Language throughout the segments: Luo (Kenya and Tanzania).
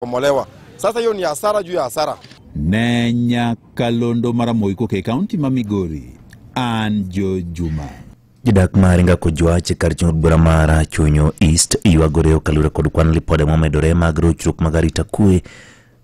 kubomolewa. Sasa hiyo ni hasara juu ya hasara. Ne Nyakalondo Maramoi kok e kaunti ma Migori, an Jo Juma. Jadak mar Ngako Jwach kar chung' od bura mar Chunyo East ywagore okaluwore kod kwan lipode momedore mag rochruok mag arita kwe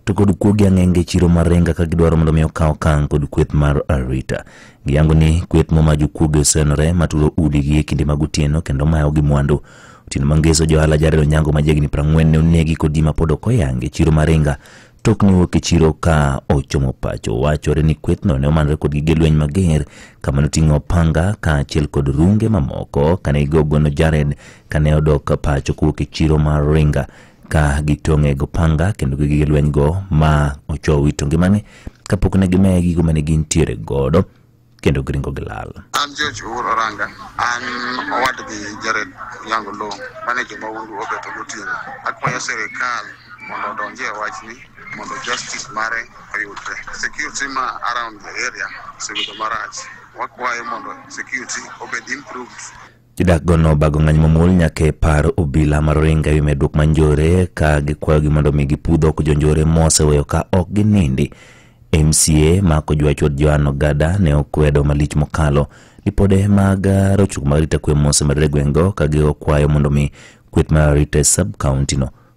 to kod kuo gi ang'enge e chiro mar Ringa ka gidwaro mondo mi okaw okang' kod kweth mar arita. Giyango ni kweth momajo kuoge osenore maturo udigi e kinde mag otieno kendo mayogi mwandu. Otieno Mangeso johala Jared Onyango ma jahigni prang'wen ne onegi kod ji ma pod ok oyangi e chiro Maringa tok ne owuok e chiro ka ochomo pacho. Wachore ni kwethno ne omanore kod gige lweny mager kama noting'o panga kaachiel kod runge mamoko kane igogono Jared kane odok pacho kowuok e chiro mar Ringa ka gitong'e go panga kendo gi gige lweny go ma ochowi to ngimane kapok ne gimeye gigo mane gintiere godo kendo gringo gi lal. An George Owuor Oranga, an owadgi Jared Onyango Lo, mane joma wuondu obeto gotieno. Akwayo sirikal mondo odonji e wachni mondo justice mare oyudre. Security ma around the area osebedo marach. Wakwayo mondo security obed improved. Jodakgo nobago ng'anyo mamuol nyaka e paro obila mar Oringa ewi medruok mar njore ka gikwayogi mondo omi gipudh oko jonjore moseweyo ka ok ginindi. MCA Marco Jwachwod Joan Ogada ne okwedo malich mokalo lipode mag rochruok mag arita kwe mosemedore e gweng'go ka gikwayo mondo omi kweth mar arita e sub-kauntino